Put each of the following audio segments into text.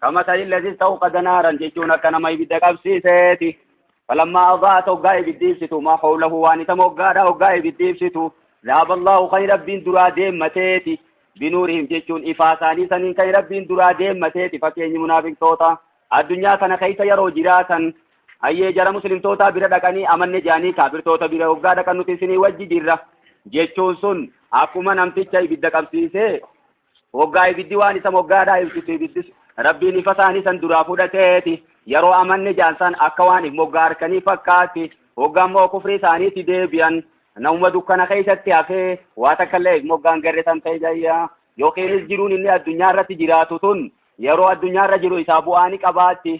kama ta'in lazis ta'u qadanaaran jechuun akka nama ibidda qabsiiseeti falammaa abaa'at hoggaa ibiddi ibsitu maa hawlahu waan isa moggaadha hoggaa ibiddi ibsitu zaaba allahu kan rabbiin duraa deemmateeti binuurihim jechuun ifaa isaanii saniin kan rabbiin duraa deemmateeti fakkeenyi munaafiqtoota addunyaa kana keessa yeroo jiraatan hayyee jara muslimtootaa bira dhaqanii amanne jaanii kaafirtoota bira hoggaa dhaqan nuti isinii wajji jirra jechuun sun akkuma namticha ibidda qabsiisee Woggaa ibiddi waan isa moggaadhaa ibsitu ibiddis Rabbiin ifa isaanii san duraa fudhateeti. Yeroo amanne jaan san akka waan if moggaa harkanii fakkaatti. Woggaa immoo kufrii isaaniitti deebi'an. Namuma dukkana keessatti hafee waa takka illee if moggaan garre san ta'e jayya. Yookiinis jiruun inni addunyaa irratti jiraatu tun yeroo addunyaa irra jiru isaa bu'aa ni qabaatti.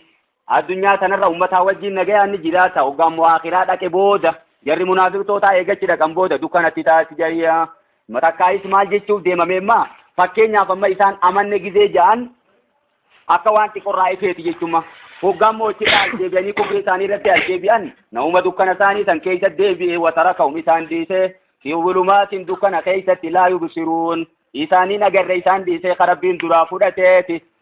Addunyaa tanarra ummataa wajjiin nagayaan ni jiraata. Hoggaa immoo aakhiraa dhaqe booda jarri munaafiqtootaa eegachi dhaqan booda dukkanatti taati jayya. Matakkaayis maal jechuuf deemamee immaa fakkeenyaaf amma isaan amanne gizee ja'an akka waan xiqqorraa ifeeti jechumma. Hoggaa immoo achirraa as deebi'anii kufrii isaanii irratti as deebi'an namuma dukkana isaanii san keessa deebi'ee watara ka'um isaan dhiisee fi zulumaatiin dukkana keessatti laa yubsiruun isaaniin agarre isaan dhiisee karabbiin duraa fudhateeti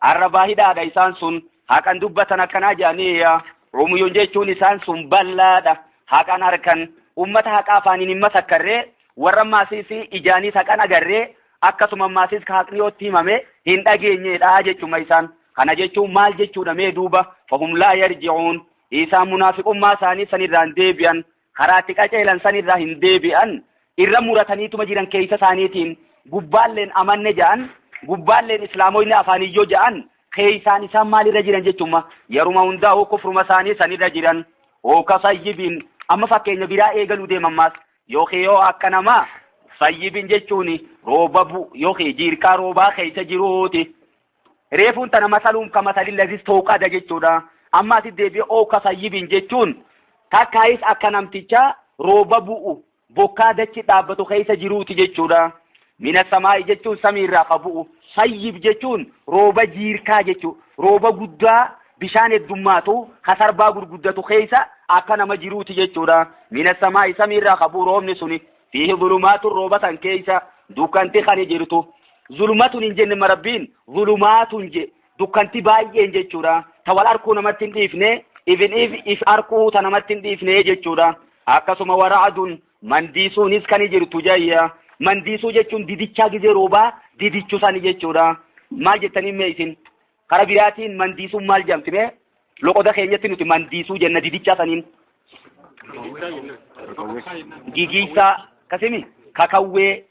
Arrabaa hidhaadha isaan sun haqan dubbatan akkanaa jedhanii yaa Umuyuun jechuun isaan sun bal'aadha haqan harkan ummata haqaa afaaniin hin masakkarree warra maasiis ijaaniis haqan agarree akkasuma maasiis ka haqni yootti himame hin dhageenyeedha jechuma isaan kana jechuun maal jechuudha mee duuba fahum laa yarji'uun isaan munaafiqummaa isaanii sanirraan deebi'an Karaa itti qaceelan san irraa hin deebi'an, irra murataniituma jiran keessa isaaniitiin, gubbaalleen amanne ja'an, gubbaalleen islaamoyne afaaniin yoo ja'an, keessaan isaan maal irra jiran jechumma, yaruma hundaa'uu kufruma isaanii san irra jiran, hooka sayyibin, amma fakkeenya biraa eegaluu deeman maas, yookiin yoo akka namaa, sayyibin jechuun rooba bu'u, yookiin jiirkaa roobaa keessa jiruuti. Reefuun tana masaluun ka masalin lazis ta'uu qada jechuudha. Amma asi deebi'ee oo ka sayyibin jechuun takkaayis akka namticha rooba bu'u bokkaa dachi dhaabbatu keessa jiruuti jechuudha. Mina samaa'i jechuun samii irraa ka bu'u. Sayyib jechuun rooba jiirkaa jechuu. Rooba guddaa bishaan heddummaatu ka sarbaa gurguddatu keessa akka nama jiruuti jechuudha. Mina samaa'i samii irraa ka bu'u roobni suni. Fiihi zulumaatun rooba san keessa dukkanti kani jirtu. Zulumatun hin jenne marabbiin zulumaatun je dukkanti baay'een jechuudha. Ta wal arkuu namatti hin dhiifne even if if arkuu ta namatti hin dhiifne jechuudha. Akkasuma wara'adun mandiisuunis kani jirtu jayya. Mandiisuu jechuun didichaa gizee roobaa didichu sani jechuudha. Maal jettanii mee isin? Kara biraatiin mandiisuun maal jedhamti mee? Loqoda keenyatti nuti mandiisuu jenna didichaa saniin. Gigiisaa kasimi kakawwee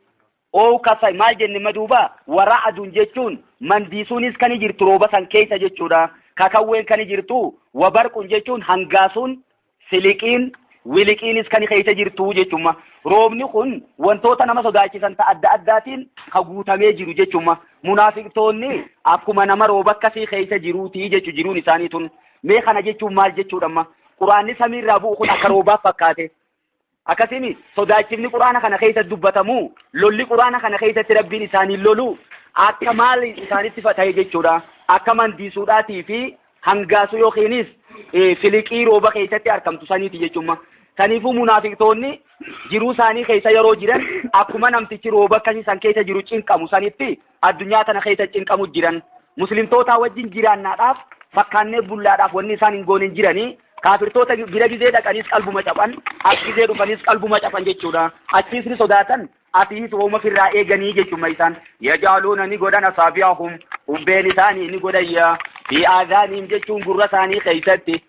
oo kasa maal jenne maduuba waraa aduun jechuun mandiisuunis kan jirtu rooba san keessa jechuudha. Kakawween kan jirtu wabarquun jechuun hangaasuun Siliqiin, wiliqiinis kan keessa jirtu jechumma. Roobni kun wantoota nama sodaachisan ta adda addaatiin ka guutamee jiru jechumma. Munaafiqtoonni akkuma nama rooba akkasii keessa jiruuti jechu jiruun isaanii tun. Mee kana jechuun maal jechuudha amma? Quraanni samiirraa bu'u kun akka roobaaf fakkaate. Akkasimi sodaachifni Qur'aana kana keessatti dubbatamu lolli Qur'aana kana keessatti Rabbiin isaaniin lolu akka maal isaanitti fatahe jechuudha. Akka mandiisuudhaatii fi hangaasuu yookiinis filiqii rooba keessatti argamtu saniiti jechuudha. Saniifuu munaafiqtoonni jiruu isaanii keessa yeroo jiran akkuma namtichi rooba akkasii san keessa jiru cinqamu sanitti addunyaa tana keessa cinqamu jiran muslimtootaa wajjin jiraannaadhaaf fakkaannee bullaadhaaf wanni isaan hin goone hin jiranii kaafirtoota bira gizee dhaqaniis qalbuma caphan as gizee dhufaniis qalbuma caphan jechuudha achiis ni sodaatan asiis hooma firraa eeganii jechuma isaan yajaaluuna ni godhan asaabiyaahum ubbeen isaanii ni godhayya fi aadaaniim jechuun gurra isaanii keessatti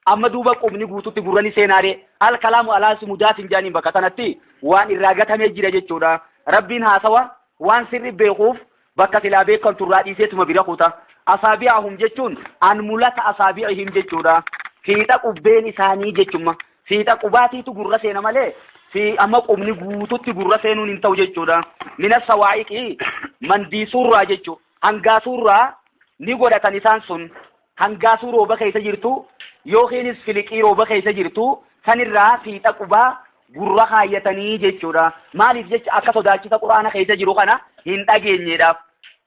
Amma duuba qubni guututti gurra ni seenaaree? Al kalaamu alaasi mudaafin jaaniin bakka sanatti waan irraa gatamee jira jechuudha. Rabbiin haasawa waan sirri beekuuf bakka silaa beekantu irraa dhiiseetuma bira kuta. Asaabi'ahum jechuun an mulata asaabi'ihim jechuudha. Fiixa qubbeen isaanii jechumma. Fiixa qubaatiitu gurra seena malee fi amma qubni guututti gurra seenuun hin ta'u jechuudha. Mina sawaa'iqii mandii surraa jechuu hangaa surraa ni godhatan isaan sun hangaasuu rooba keessa jirtu yookiinis filiqii rooba keessa jirtu sanirraa fiixa qubaa gurra kaayyatanii jechuudha. Maaliif jecha akka sodaachisa quraana keessa jiru kana hin dhageenyeedhaaf.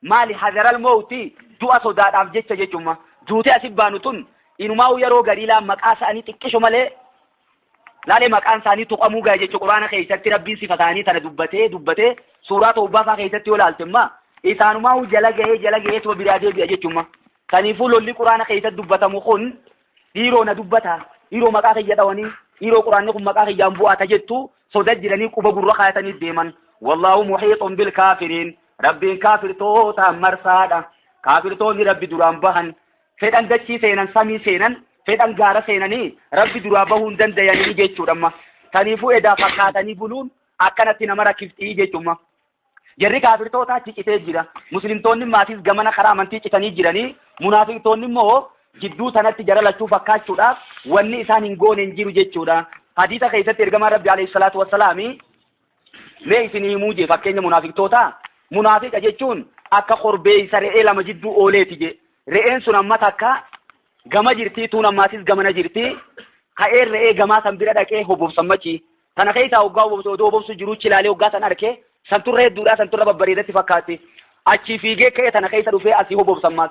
Maali hazaral mowti du'a sodaadhaaf jecha jechumma. Duutee asi baanu tun inumaa yeroo gariilaa maqaa isaanii xiqqisho malee laalee maqaan isaanii tuqamuu gahe jechuudha quraana keessatti rabbiin sifa isaanii tana dubbatee dubbatee suuraa ta'ubbaa fa'aa keessatti yoo laalte immaa isaanumaa jala gahee jala gahee tuba biraa deebi'a jechuudha. Kaniifuu lolli Quraana keessatti dubbatamu kun dhiiroo na dubbata, dhiiroo maqaa kiyya dhawanii, dhiiroo Quraanni kun maqaa kiyyaan bu'aa ta jettu soda jiranii quba gurra kaayatanii deeman. Wallaahu muhiixun bil kaafiriin. Rabbiin kaafirtootaan marsaadha. Kaafirtoonni Rabbi duraan bahan fedhan dachii seenan samii seenan fedhan gaara seenanii Rabbi duraa bahuu hin dandayanii jechuudha amma. Kaniifuu edaa fakkaatanii buluun akkanatti nama rakkiftii jechuudha. Jarri kaafirtootaa achi citee jira. Muslimtoonni maatiis gamana karaa amantii citanii jiranii. Munaafiqtoonni immoo jidduu tanatti jara lachuu fakkaachuudhaaf wanni isaan hin goone hin jiru jechuudha. Hadiisa keessatti ergamaan Rabbi alayhi salaatu wassalaami mee isin himuu jee fakkeenya munaafiqtootaa. Munaafiqa jechuun akka korbeessa re'ee lama jidduu ooleeti jee. Re'een sun amma takka gama jirtii tuun ammaatis gamana jirtii. Ka'een re'ee gamaa san bira dhaqee hobobsan machi. Tana keessaa hoggaa obobsu oduu obobsu jiruu chilaalee hoggaa san arkee santurra hedduudhaa santurra babbareedatti fakkaatti. Achii fiigee ka'ee tana keessa dhufee asii obobsan maas.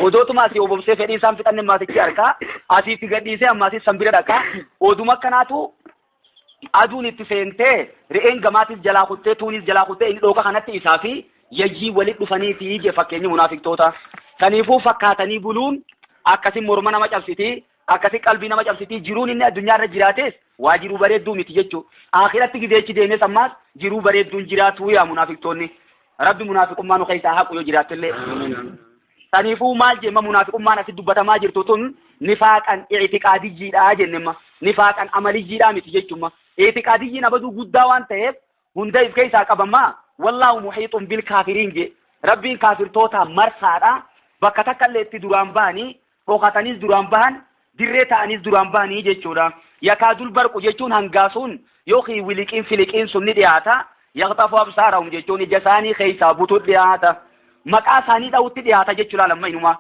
Odootuma asii obobsee fedhii isaan fixanne maasichi arkaa asiitti gadhiisee ammaasis san bira dhaqaa oduma akkanaatu aduun itti seentee re'een gamaatis jalaa kuttee tuunis jalaa kuttee inni dhooqa kanatti isaa fi yayyii walit dhufanii fi ije fakkeenyi munaafiqtoota. Kaniifuu fakkaatanii buluun akkasi morma nama cabsiti Akkasi qalbii nama cabsitii jiruun inni addunyaa irra jiraatees waa jiruu bareedduu miti jechuu aakhiratti gizeechi deemes ammaas jiruu bareedduun jiraatuu yaa munaafiqtoonni rabbi munaafiqummaa nu keessaa haqu yoo jiraattellee saniifuu maal jemma munaafiqummaan asi dubbatamaa jirtu tun nifaaqan ictiqaadiyyiidha jennema nifaaqan amaliyyiidha miti jechumma ictiqaadiyyiin abaduu guddaa waan ta'eef hunda if keessaa qaba maa wallaahu muhiixun bil kaafiriin jee rabbiin kaafirtootaa marsaadha bakka takka illee itti duraan bahanii dhokataniis duraan bahan dirree ta'aniis duraan bahanii jechuudha yakaadul barqu jechuun hangaasuun yookiin wiliqiin filiqiin sun ni dhiyaata yaqxafu absaarahum jechuun ija isaanii keessaa butu dhiyaata maqaa isaanii dha'utti dhiyaata jechuudha lamma inumaa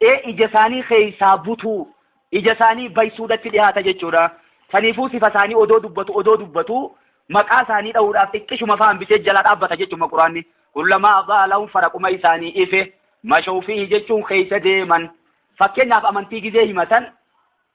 ee ija isaanii keessaa butuu ija isaanii baysuudhatti dhihaata jechuudha. Saniifuu sifa isaanii odoo dubbatu odoo dubbatu maqaa isaanii dha'uudhaaf xiqqishuma faa hambisee jala dhaabbata jechuudha Quraanni. Kullamaa adaa lahum faraquma isaanii ife mashawfiihi jechuun keessa deeman. Fakkeenyaaf amantii gizee himatan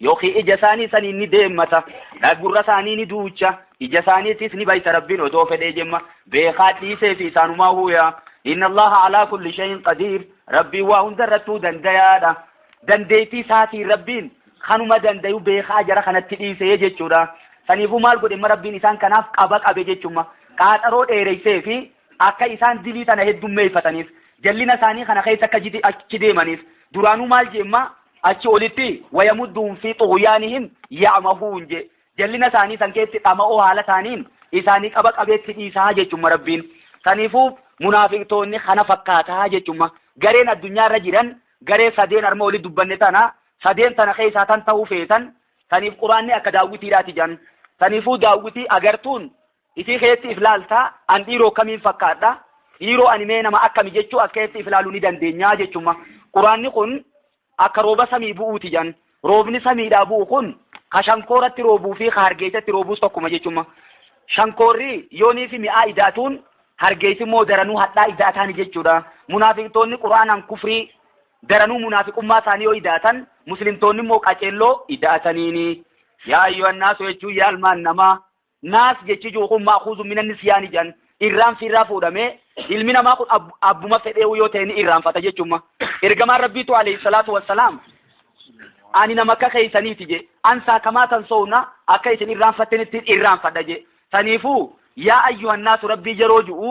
Yookiin ija isaanii saniin ni deemmata. Dha gurra isaanii ni duucha. Ija isaaniitiis ni baysa Rabbiin odoo fedhee jemma. Beekaa dhiisee fi isaanumaa huuyaa. Inna Allaha alaa kulli shayin qadiir. Rabbiin waa hunda irrattuu dandayaadha. Dandeeytii isaatiin Rabbiin kanuma dandayu beekaa jara kanatti dhiisee jechuudha. Saniifuu maal godhemma Rabbiin isaan kanaaf qaba qabe jechumma. Qaaxaroo dheereysee fi Akka isaan dilii tana heddummeeyfataniif, jallina isaanii kana keessa akka achi deemaniif, duraanuu maal jeemma? Achi olitti, wayamudduhum fii xughyaanihim ya'mahuun jee. Jallina isaanii san keessatti dhama'oo haala taaniin, isaanii qaba qabeetti dhiisa jechuumma Rabbiin. Saniifuu, munaafiqtoonni kana fakkaata jechuumma. Gareen addunyaa irra jiran, garee sadeen arma olii dubbanne tana, sadeen tana keessaa tan tahuu feetan, saniif quraanni akka daawwitiidhaati jean. Saniifuu daawwitii agartuun Ifii keetti if laaltaa? An dhiiroo kamiin fakkaadha? Dhiiroo ani mee nama akkami jechuu as keessatti if laaluu ni dandeenyaa jechumma. Quraanni kun akka rooba samii bu'uuti jedhan. Roobni samiidhaa bu'u kun ka shankooratti roobuu fi ka hargeessatti roobuus tokkuma jechumma. Shankoorri yoonii fi mi'aa idaatuun hargeessi immoo daranuu hadhaa idaataani jechuudha. Munaafiqtoonni quraanaan kufrii daranuu munaafiqummaa isaanii yoo idaatan muslimtoonni immoo qaceelloo idaataniini. Yaa ayyuhan naasu jechuun yaa ilmaan namaa Naas jechi ji'u kun ma'khuuzun mina nisyaani jedhan irraanfi irraa fuudhame ilmi namaa kun ab- abbuma fedheewu yoo ta'e ni irraanfata jechumma. Ergamaan Rabbiitu alayhi salaatu wassalaam ani nama akka keessaniiti je ansaa kamaa tan soowna akka isin irraanfattanittiin irraanfadha je saniifuu yaa ayyuhannaasu rabbii yeroo ju'u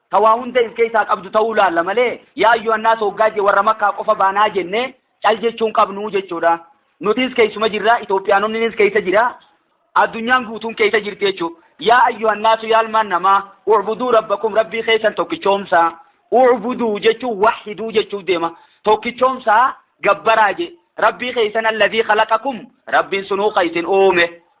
ta waa hunda if keessaa qabdu ta'uu laalla malee, Yaa Ayyuhannaas hoggaa je warra Makkaa qofa baanaa jenne cal jechuu hin qabnu jechuu dha. Nutis keessuma jirra, Itoophiyaanonninis keessa jira, addunyaan guutuun keessa jirti jechuu. Yaa Ayyuhannaasu yaa ilmaan namaa, u'buduu rabbakum Rabbii keessan tokkichoomsaa. U'buduu jechuun wahiduu jechuuf deema. Tokkichoomsaa gabbaraa je. Rabbii keessan alladhii khalaqakum Rabbiin sunuu ka isin uume.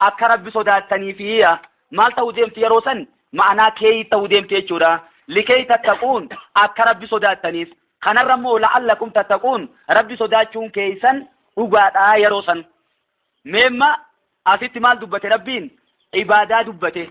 akka Rabbi sodaattaniifi. Yaa maal ta'uu deemti yeroo san? Ma'anaa keeyii ta'uu deemti jechuudha. Likeey tattaquun akka Rabbi sodaattaniif. Kanarra immoo la'allakum tattaquun Rabbi sodaachuun keeysan dhugaadha yeroo san. Meemma asitti maal dubbate Rabbiin? Ibaadaa dubbate.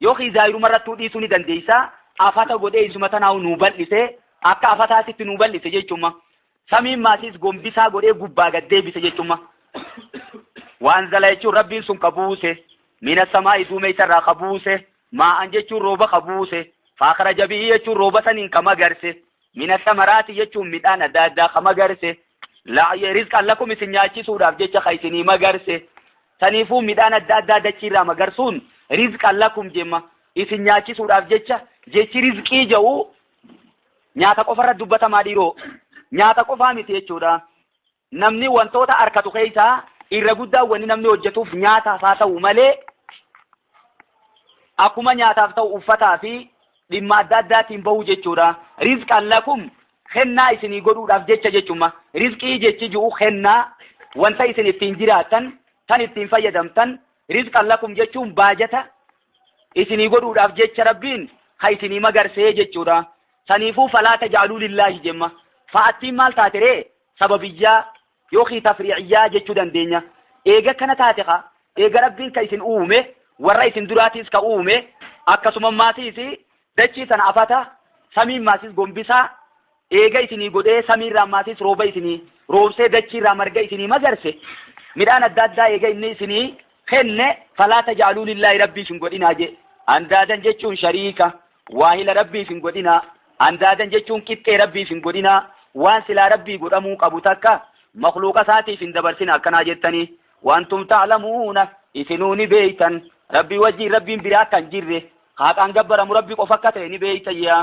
Yookiin zaahiruma irrattuu dhiisuu ni dandeessa. Afata godhee isuma tanaahu nuu bal'ise, akka afataa sitti nuu bal'ise jechumma. Samiin maasiis gombisaa godhee gubbaa gad deebise jechumma. Waanzala jechuun rabbiin sun ka buuse, mina samaa'i duumeysa irraa ka buuse, maa'an jechuun rooba ka buuse, faakhraja bihi jechuun rooba saniin ka magarse, mina samaraati jechuun midhaan adda addaa ka magarse, la'ye rizqan lakum isin nyaachisuudhaaf jecha ka isinii magarse, Saniifuu midhaan adda addaa dachiirraa magarsuun rizqan lakum jemma. Isin nyaachisuudhaaf jecha jechi rizqii ja'u nyaata qofarra dubbatamaa dhiiroo. Nyaata qofaa miti jechuudha. Namni wantoota arkatu keessaa irra guddaa wanni namni hojjetuuf nyaataaf haa ta'u malee akkuma nyaataaf ta'u uffataa fi dhimma adda addaatiin bahu jechuudha. Rizqan lakum kennaa isinii godhuudhaaf jecha jechumma. Rizqii jechi ju'u kennaa, wanta isin ittiin jiraattan, tan ittiin fayyadamtan, rizqan lakum jechuun baajata isinii godhuudhaaf jecha Rabbiin ka isinii magarsee jechuudha. Saniifuu falaa taj'aluu lillaahi jemma. Fa'attiin maal taate ree? Sababiyyaa Yookiin tafrii'iyyaa jechuu dandeenya. Eega akkana taate ka, eega Rabbiin ka isin uume, warra isin duraatiis ka uume, akkasuma maasiis dachii sana afata, samiin maasiis gombisaa, eega isinii godhee samiirraa maasiis rooba isinii roobsee dachiirraa marga isinii magarse, midhaan adda addaa eega inni isinii kenne falaa tajaaluu lillaahi rabbiif hin godhinaa jee andaadan jechuun shariika waahila rabbiif hin godhinaa andaadan jechuun qixxee rabbiif hin godhinaa waan silaa rabbii godhamuu qabu takka makluuqa isaatiif hin dabarsina akkanaa jettanii wantum ta'lamuuna isinuu ni beeytan rabbii wajjiin rabbiin biraa kan jirre haaqaan gabbaramu rabbi qofa akka ta'e ni beeytayyaa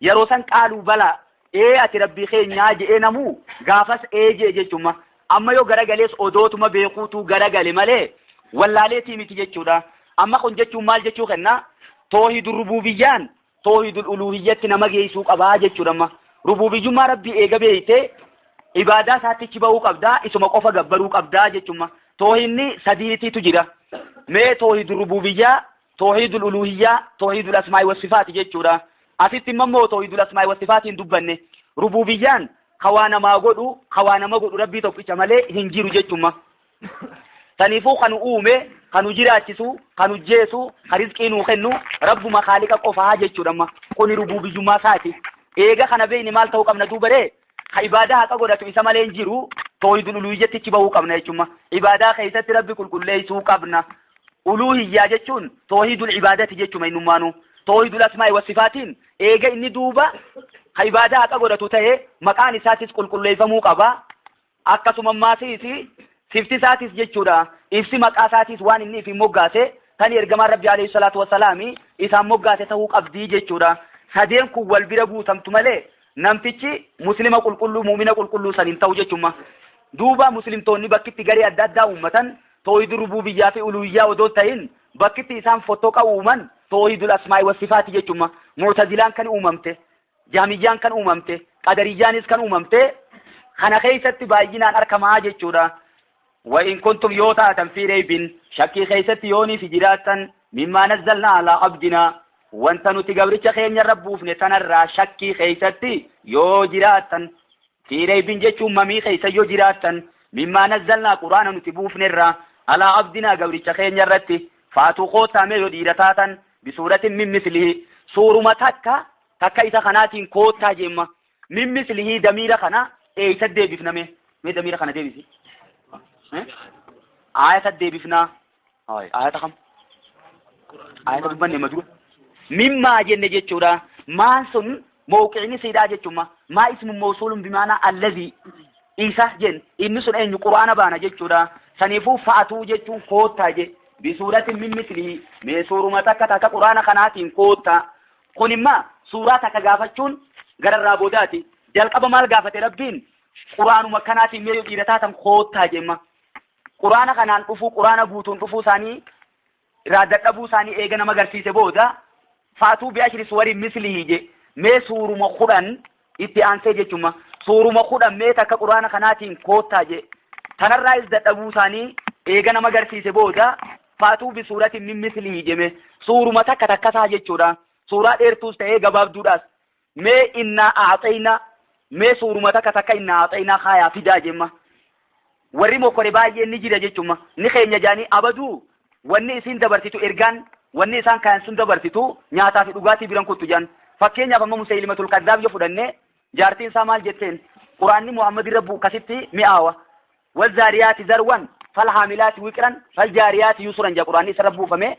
Yaroo san qaaluu bala, ee ati Rabbii keenyaa je'ee namuu gaafas ee je'e jechumma. Amma yoo garagalees odootuma beekuutuu garagale malee wallaaleetii miti jechuudha. Amma kun jechuun maal jechuu kenna? Toohiidul rubuubiyyaan toohiidul uluuhiyyatti nama geessuu qabaa jechuudha amma. Rubuubiyyummaa Rabbii eega beeytee ibaadaa isaatti achi bahuu qabdaa, isuma qofa gabbaruu qabdaa jechumma. Toohiinni sadiitiitu jira. Mee toohiidul rubuubiyyaa Toohiidul uluuhiyyaa, toohiidul asmaa'i wassifaati jechuudha. Asitti immoo immoo toohiidul asmaa'i wassifaatiin dubbanne. Rubuubiyyaan ka waa namaa godhu, ka waa nama godhu Rabbii tokkicha malee hin jiru jechumma. Saniifuu kan nu uume, kan nu jiraachisu, kan nu jeesu, kan rizqii nuu kennu Rabbuma Khaaliqa qofaa jechuudha amma. Kuni rubuubiyyummaa isaati. Eega kana beekne maal ta'uu qabna duubaree? ka ibaadaa haqa godhatu isa malee hin jiru toohidul uluhiyyattichi bahuu qabna jechuun ibaadaa keessatti rabbi qulqulleessuu qabna uluhiyyaa jechuun toohidul ibaadati jechuma innummaanuu toohidul asmaa'i wasifaatiin eega inni duuba ka ibaadaa haqa godhatu ta'e maqaan isaatis qulqulleeffamuu qaba akkasuma maasiis sifti isaatis jechuudha ibsi maqaa isaatis waan inni ifiin moggaase kan ergamaan rabbi alayhi salaatu wasalaami isaan moggaase ta'uu qabdii jechuudha sadeen kun wal bira buutamtu malee Namtichi Muslima qulqulluu, mu'mina qulqulluu san hin ta'u jechuun maa? Duuba Muslimtoonni bakkitti garee adda addaa uummatan toohidul rubuubiyyah fi uluuhiyyah odoo hin tahin bakkitti isaan fottoqa uuman toohidul asmaa'i wa sifaati jechuun maa? Mu'tazilaan kan uumamte, Jahmiyyaan kan uumamte, Qadariyyaanis kan uumamte kana keessatti baay'inaan arkamaa jechuudha. Wa in kuntum yoo taatan fii reybin shakkii keessatti yoo nifi jiraattan mimmaa nazzalnaa alaa abdinaa wanta nuti gabricha keenya irra buufne tanarraa shakkii keessatti yoo jiraattan fii reybin jechuun mamii keessa yoo jiraattan mimmaa nazzalnaa quraana nuti buufnerraa alaa abdinaa gabricha keenya irratti faatuu koottaa mee yoo dhiira taatan bisuuratin min mislihi suuruma takka takka isa kanaatiin koottaa jemma Min mislihi damiira kana eeysa deebifna mee? Mee damiira kana deebisi. Eh? Aayata deebifnaa. Hooy, aayata kam? Aayata dubbanne ma dura? Mimmaa jenne jechuudha. Maan sun mawqiini siidhaa jechuudha. Maa ismu mawsuulun bimaanaa allazii isa jen inni sun eenyu quraana baana jechuudha. Saniifuu fa'atuu jechuun koottaa je. Bisuuratin min mislihi mee suuruma takka takka quraana kanaatiin koottaa. Kun immaa suuraa takka gaafachuun gararraa boodaati. Jalqaba maal gaafate Rabbiin? Quraanuma kanaatiin mee yoo dhiira taatan koottaa jemma. Quraana kanaan dhufuu, quraana guutuun dhufuu isaanii irraa dadhabuu isaanii eega nama garsiise booda faatuu bi'ashri suwari mislihi je mee suuruma kudhan Itti aansee jechumma suuruma kudhan mee takka quraana kanaatiin koottaa jee tanarraayis dadhabuu isaanii eega nama garsiise booda faatuu bi suuratiin min mislihi jeme suuruma takka takkasaa jechuudha suuraa dheertuus ta'ee gabaabduudhaas mee innaa aaxeeyna mee suuruma takka takka innaa aaxeeyna kaayaa fidaa jemma warri mokkore baay'een ni jira jechumma ni keenya jaanii abaduu wanni isiin dabarsitu ergaan wanni isaan kayan sun dabarsitu nyaataa fi dhugaatii biran kuttu jaan fakkeenyaaf amma musaylimatul kazzaab yoo fudhanne jaartiin isaa maal jetteen quraanni muhammad irra bu'u kasitti mi'aawa wal zaariyaati zarwan fal haamilaati wiqiran fal jaariyaati yusuran jaa quraanni isarra buufame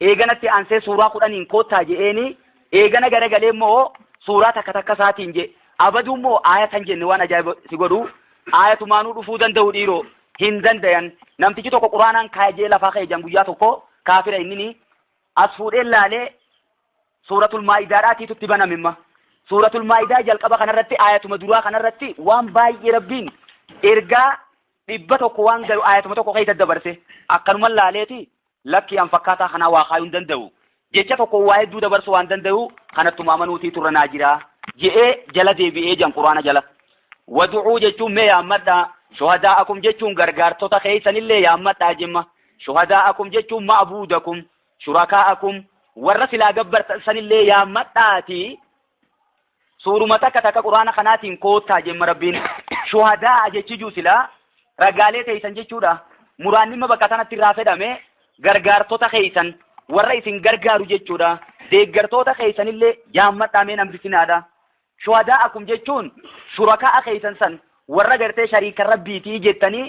Eegana itti aansee suuraa kudhaniin koottaa je'eenii, eegana garagalee immoo suuraa takka takka isaatiin je'e. Abaduu immoo aayata hin jenne waan ajaa'iba si godhu, aayatumaanuu dhufuu danda'u dhiiroo, hin dandayan. Namtichi tokko quraanaan kaaya je'ee lafaa ka'e je'an guyyaa tokko, kaafira innini, as fuudhee laalee suuratul maa'idaadhaatiitu itti baname imma. Suuratul maa'idaa jalqaba kanarratti aayatuma duraa kanarratti waan baay'ee rabbiin ergaa dhibba tokko waan gayu aayatuma tokko keessa dabarse akkanuman laaleeti Lakkii an fakkaataa kanaa waa kaayuu hin danda'u. Jecha tokkoon waa hedduu dabarsuu waan danda'uu kanattuma amanuutii turra naa jiraa. Je'ee jala deebi'ee jan Qur'aana jala. Wadu'uu jechuun mee yaammadhaa. Shuhadaa'akum jechuun gargaartota keessanillee yaammadhaa jimma. Shuhadaa'akum jechuun ma'buudakum. Shurakaa'akum warra silaa gabbartan sanillee yaammadhaatii suuruma takka takka quraana kanaatiin koottaa jemma rabbiin shuhadaa jechi juu silaa ragaalee teeysan jechuudha muraannimma bakka sanatti irraa fedhame gargaartota keeysan warra isin gargaaru jechuudha deeggartoota keeysanillee yaammadhaa mee nambisinaadha shuhadaa akum jechuun shurakaa keeysan san warra gartee shariika rabbiitii jettanii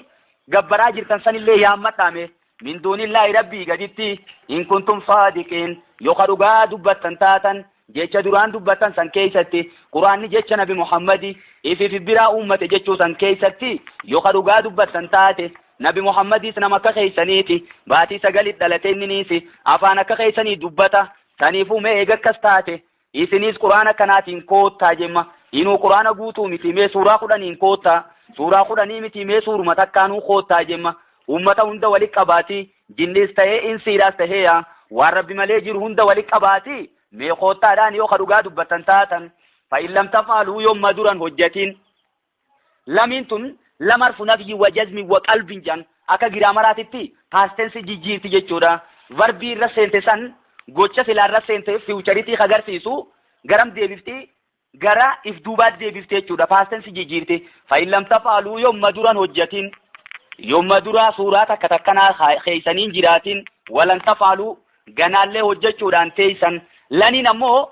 gabbaraa jirtan sanillee yaammadhaa mee min duunillaahi rabbii gaditti in kuntum saadiqiin yoo ka dhugaa dubbattan taatan jecha duraan dubbattan san keeysatti quraanni jecha nabi muhammadi ifiif biraa uummate jechuu san keeysatti yoo ka dhugaa dubbattan taate nabi muhammadiis nama akka keeysaniiti baatii sagalit dhalate inniniisi afaan akka keeysanii dubbata saniifuu mee eega akkas taate Isiniis qur'aana kanaatiin koottaa jemma inuu qur'aana guutuu mitii mee suuraa kudhaniin koottaa suuraa kudhanii mitii mee suuruma takkaanuu koottaa jemma ummata hunda wali qabaatii jinniis tahee insiidhaas tahee yaa waan rabbi malee jiru hunda wali qabaatii mee koottaadhaan yoo ka dhugaa dubbattan taatan fa in lam taf'aluu yomma duran hojjatiin Lamiin tun lam harfu nafyi wa jazmi wa qalbin jedhan akka giraamaraatitti past tense jijjiirti jechuudha. Varbii irra seente san gocha silaa irra seente fiwucharitii ka garsiisu garam deebifti gara if duubaatti deebifti jechuudha. Past tense jijjiirti. Fa'in lam tafaaluu yomma duran hojjatiin yomma duraa suuraa takka takkanaa keessaniin jiraatiin walan tafaaluu ganaallee hojjechuudhaan teessan laniin ammoo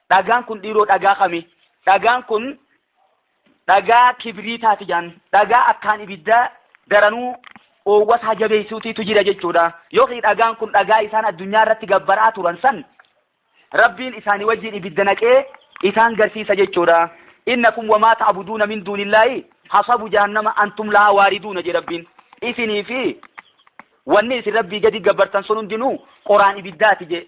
Dhagaan kun dhiiroo dhagaa kami? Dhagaan kun dhagaa kibriitaati jaan dhagaa akkaan ibiddaa daranuu oowwasaa jabeessuutiitu jira jechuudha. Yookiin dhagaan kun dhagaa isaan addunyaa irratti gabbaraa turan san rabbiin isaanii wajjin ibidda naqee isaan garsiisa jechuudha. Innakum wamaa ta'buduuna min duunillaahi hasabu jahannama antum lahaa waariduuna jedha rabbiin. Isinii fi wanni isin rabbii gadi gabbartan sun hundinuu qoraan ibiddaati je.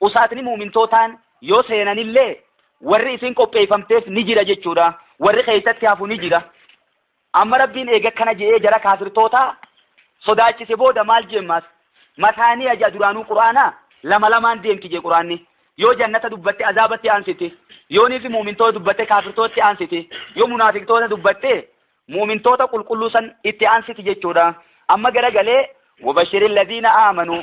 Usaatni mu'mintootaan yoo seenanillee warri isin qopheeyfamteef ni jira jechuudha. Warri keeysatti hafu ni jira. Amma Rabbiin eega akkana je'ee jara kaafirtootaa sodaachise booda maal je'e ammaas? Masaaniya je'a duraanuu Qur'aana lama lamaan deemti je'e Qur'aanni. Yoo jannata dubbatte azaabatti aansiti. Yoo nifi mu'mintoota dubbatte kaafirtootatti aansiti. Yoo munaafiqtoota dubbatte mu'mintoota qulqulluu san itti aansiti jechuudha. Amma garagalee wabashiri alladhiina aamanuu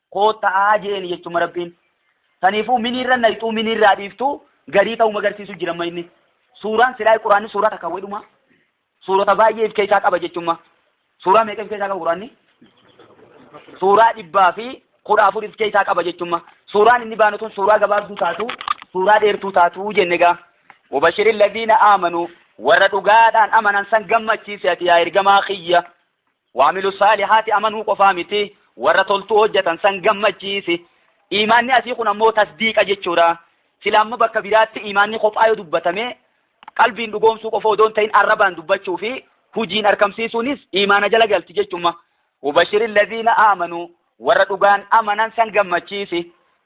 kootta'aa je'een jechuma rabbiin saniifuu miniirra nayxuu miniirraa dhiiftuu garii ta'uu magarsiisu jiramma inni suuraan silaa quraanni suuraa takka wedhuma suurota baay'ee if keessaa qaba jechumma suuraa meeqa if keessaa qaba quraanni suuraa dhibbaa fi kudha afur if keessaa qaba jechumma suuraan inni baanu tun suuraa gabaabduu taatu suuraa dheertuu taatu jenne gaa wabashirin ladiina aamanu warra dhugaadhaan amanan san gammachiisi ati yaa ergamaa kiyya Waamilu saalihaati amanuu qofaa miti, warra toltuu hojjatan san gammachiisi. Iimaanni asii kun ammoo tasdiiqa jechuudha. Silaa amma bakka biraatti iimaanni kophaa yoo dubbatame qalbiin dhugoomsuu qofa odoo hin ta'in arrabaan dubbachuu fi hujiin arkamsiisuunis iimaana jala galti jechumma. Wabashiri laziina aamanuu warra dhugaan amanan san gammachiisi.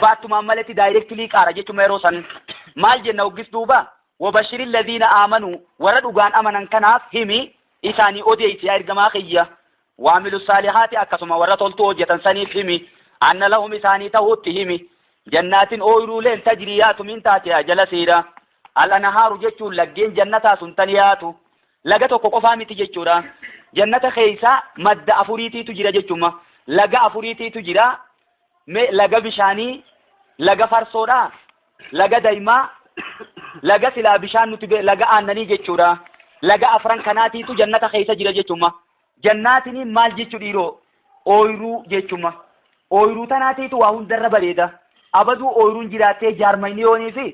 baattumaan maletti daayirektilii qaara jechuma yeroo san maal jenna hoggis duuba wabashiri ladhiina aamanu warra dhugaan amanan kanaaf himi isaanii odeessi yaa ergamaa kiyya waamilu saalihaati akkasuma warra toltuu hojjetan saniif himi anna lahum isaanii ta'uutti himi jannaatin ooyiruuleen tajrii yaatu min taatiyaa jala siira al'anahaaru jechuun laggeen jannataa sun tan yaatu laga tokko qofaa miti jechuudha jannata keeysaa madda afuriitiitu jira jechuma laga afuriitiitu jira Mee laga bishaanii, laga farsoodha, laga daimaa, laga silaa bishaan nuti be- laga aannanii jechuudha. Laga afran kanaatiitu jannata keessa jira jechumma. Jannaatiniin maal jechu dhiiroo? Ooyruu jechumma. Ooyruu tanaatiitu waa hundarra bareeda. Abaduu ooyruun jiraattee jaarmayniyoonii fi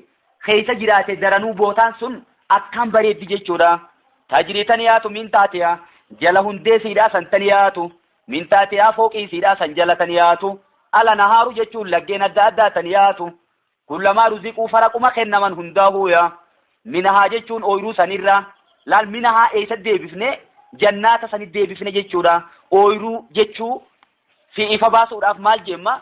keessa jiraate daranuu bootaan sun akkaan bareeddi jechuudha. Tajrii taniyaatu min taatiya jala hundee siidhaa san taniyaatu Min taatihaa fooqii isiidhaa san jala tan yaatu, Al anahaaru jechuun laggeen adda addaa tan yaatu, Kullamaa ruziquu faraquma kennaman hundaahuu ya, minahaa jechuun ooyruu sanirraa, laal minahaa eeysatti deebifne, jannaata sanitti deebifne jechuudha, ooyruu jechuu fi ifa baasuudhaaf maal jeemma,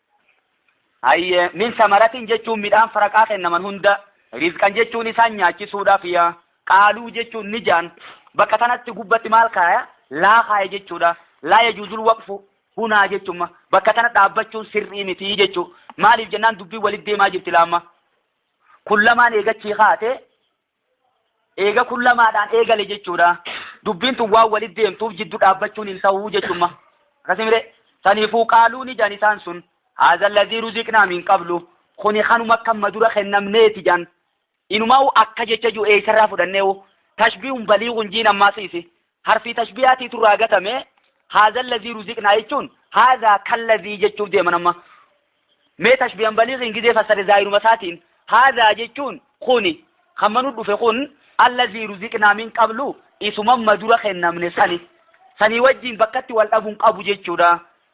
Hayyee, min samaratin jechuun midhaan faraqaa kennaman hunda, rizqan jechuun isaan nyaachisuudhaaf ya, qaaluu jechuun ni jaan, bakka tanatti gubbatti maal kaaya? laa kaaya jechuudha. Laa yajuuzul waqfu hunaa jechumma. Bakka tana dhaabbachuun sirrii miti jechu. Maaliif jennaan dubbiin walit deemaa jirti laamma. Kun lamaan eegachii kaate Eega kun lamaadhaan eegale jechuudha. Dubbiin tun waan walit deemtuuf jiddu dhaabbachuun hin ta'uu jechumma. Akkasi mire? Saniifuu qaaluu ni jan isaan sun haadha alladhii ruziqnaa min qablu kuni kanuma akka amma dura kennamneeti jan. Inumaa'u akka jecha jiru eessarraa fudhanneewu tashbiihun baliighun jiin ammaasiisi. harfii tashbiyaatiitu irraa gatame haadha lazii ruziqnaa jechuun haadha kan lazii jechuuf deeman amma mee tashbiyan baliiqiin gizee fassare zaayinuma isaatiin haadha jechuun kuni kan manu dhufe kun allazii ruziqnaa min qablu isumamma dura kennamne sani sanii wajjiin bakkatti wal dhabuun qabu jechuudha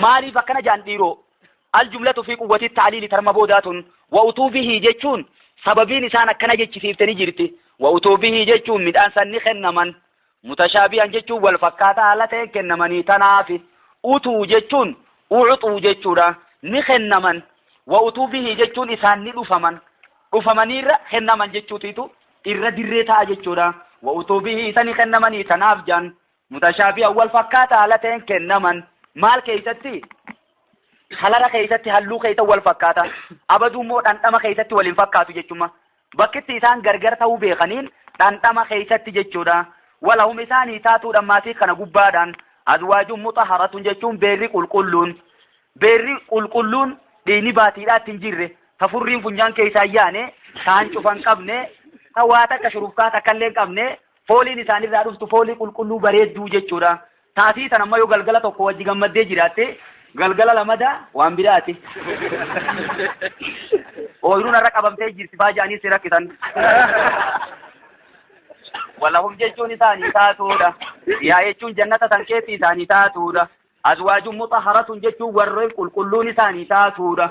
Maaliif akkana jaan dhiiroo? Aljumlatu fi quwwatii ta'aliili tarma boodaa tun wa utuu bihii jechuun sababiin isaan akkana jechisiifte ni jirti. Wa utuu bihii jechuun midhaan san ni kennaman. Mutashaabihan jechuun wal fakkaataa haala ta'een kennamanii tanaafi. Utuu jechuun ucuxuu jechuudha. Ni kennaman. Wa utuu bihii jechuun isaan ni dhufaman. Dhufamaniirra kennaman jechuutiitu irra dirree ta'a jechuudha. Wa utuu bihii isa ni kennamanii tanaaf jaan Mutashaabihan wal fakkaata haala ta'een kennaman maal keessatti? Kalara keessatti halluu keessa wal fakkaata. Abaduu immoo dhandhama keessatti wal hin fakkaatu jechuudha. Bakkitti isaan gargar ta'uu beekaniin dhandhama keessatti jechuudha. Walahum isaanii taatuudhaan maatii kana gubbaadhaan azwaajuun mutaharatun jechuun beerri qulqulluun beerri qulqulluun dhiini baatiidhaatti hin jirre ta furriin funyaan keessaa yaane taan cufan qabne ta waa takka shurufkaa takka illee qabne Fooliin isaan irraa dhuftu foolii qulqulluu bareedduu jechuudha. Taatii tan amma yoo galgala tokko wajji gammaddee jiraatte galgala lamada waan biraati. Ooyiruun har'a qabamtee jirti faa jedhanii si rakkisan. Walahum jechuun isaanii taatuudha. Yaa jechuun jannata san keessi isaanii taatuudha. Azwaajuun mutahharatun jechuun warreen qulqulluun isaanii taatuudha.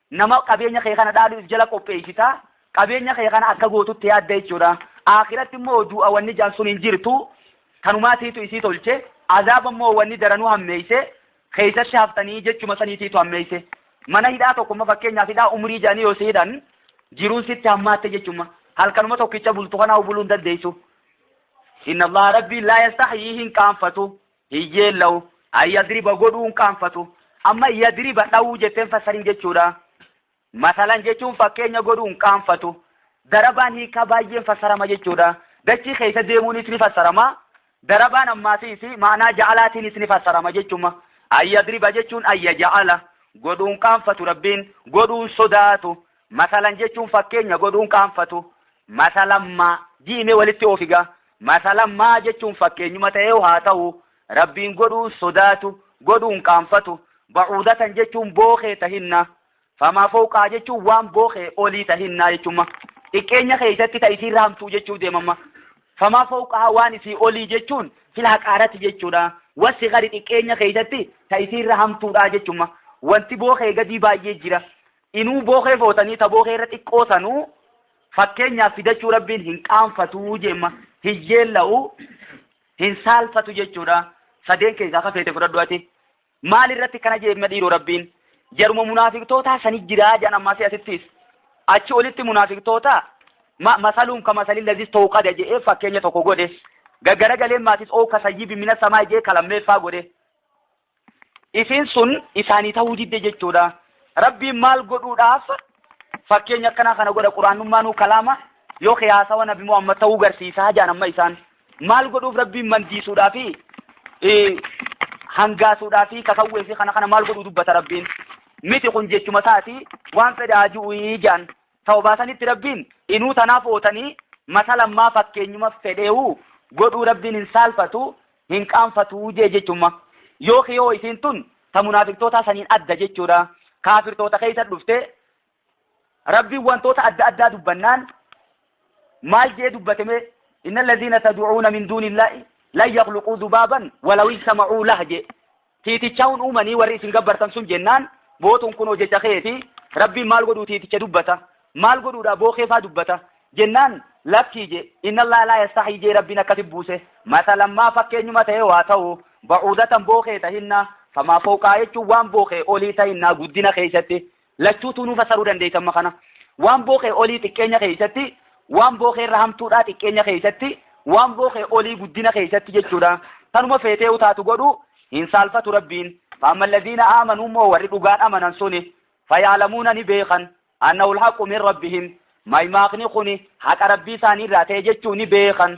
Nama qabeenya kee kana dhaalu if jala qopheessita, qabeenya kee kana akka gootutti yaadda jechuudha. Aakhiratti immoo du'a wanni jaan sun hin jirtu, tanumaatiitu isii tolche, azaaba immoo wanni daranuu hammeeyse, keeysa shaaftanii jechuma saniitiitu hammeeyse. Mana hidhaa tokkomma fakkeenyaaf hidhaa umrii jaanii yoo si hidhan, jiruun sitti hammaatte jechumma. Halkanuma tokkicha bultu kanaa buluun dandeeysu. Inna Allah Rabbiin laa yastahyii hin qaanfatu, hin yeella'u, an yadriba godhuu hin qaanfatu. Amma yadriba dhawuu jettee hin fassarin jechuudha. Masalan jechuun fakkeenya godhuu hin qaanfatu. Darabaan hiikaa baay'een fassarama jechuudha. Dachii keessa deemuunis ni fassarama. Darabaan ammaatiis maanaa ja'alaatiinis ni fassarama jechuma. An yadriba jechuun an yaja'ala. Godhuu hin qaanfatu Rabbiin, godhuu hin sodaatu. Masalan jechuun fakkeenya godhuun qaanfatu. Masalan ma, ji'i mee walitti oofi ga. Masalan ma jechuun fakkeenyuma ta'eeyu haa ta'u, Rabbiin godhuun sodaatu, godhuun qaanfatu. Ba'uudatan jechuun bookee tahinna. Famaa fowqahaa jechuun waan bookee olii tahinna jechumma. Xiqqeenya keessatti ta isiirra hamtuu jechuu deemamma. Famaa fowqahaa waan isii olii jechuun fil haqaarati jechuudha. Wassigari xiqqeenya keessatti ta isiirra hamtuudha jechumma. Wanti bookee gadii baay'ee jira. Inuu bookee footanii ta bookee irra xiqqoo sanuu fakkeenyaaf fidachuu rabbiin hin qaanfatuu jeemma hin yeella'u hin saalfatu jechuudha sadeen keessaa ka feete fudhadhu ati maal irratti kana jeemma dhiiroo rabbiin jaruma munaafiqtootaa sani jiraa jedhan ammaasii asittiis achi olitti munaafiqtootaa ma masaluun ka masalin lazis ta'uu qada je'ee fakkeenya tokko godhe gaggara galeen maatis oo ka sayyibi mina samaa jee kalammeeffaa godhe Isiin sun isaanii ta'uu didde jechuudha. Rabbiin maal godhuudhaaf fakkeenya akkanaa kana godha quraannummaanuu kalaama yoo kee haasawa nabi Muhammad ta'uu garsiisaa jaan amma isaan maal godhuuf rabbiin mandiisuudhaa fi hangaasuudhaa fi kakawwee fi kana kana maal godhuu dubbata rabbiin miti kun jechuma isaati waan fedhaa ji'uuyii jaan Tawbaa sanitti Rabbiin, Inuu tanaa footanii mata lammaa fakkeenyuma fedhe'uu godhuu Rabbiin hin saalfatu, hin qaanfatu je'e jechumma. Yoo kiyoo isiin tun ta munaafiqtootaa saniin adda jechuudha. Kaafirtoota keessa dhufte. Rabbiin wantoota adda addaa dubbannaan maal je'e dubbate mee? Inna allaziina tad'uuna min duunillaahi lan yakhluquu zubaaban walaw ijtama'uu lah je'e. Tiiticha hun uumanii warri isin gabbartan sun jennaan bootuun kunoo jecha keeti rabbiin maal godhuu tiiticha dubbata maal godhuudha bookee faa dubbata jennaan lakkii je innallaa laa yastaxii jee rabbiin akkasi buuse masalammaa fakkeenyuma ta'ee waa ta'u ba'uudatan bookee tahinnaa famaa fooqaa jechuun waan bookee olii tahinnaa guddina keessatti Lachuutuu nuu fassaruu dandeeysa amma kana. Waan bookee olii xiqqeenya keeysatti, waan bookee irra hamtuudhaa xiqqeenya keeysatti, waan bookee olii guddina keeysatti jechuudha. Tanuma feetee utaatu godhu hin saalfatu Rabbiin. Faamma alladiina aamanuu immoo warri dhugaan amanan suni fayaalamuuna ni beekan annahu alhaqu min rabbihim maymaakni kuni haqa Rabbii isaanii irraa ta'e jechuu ni beekan.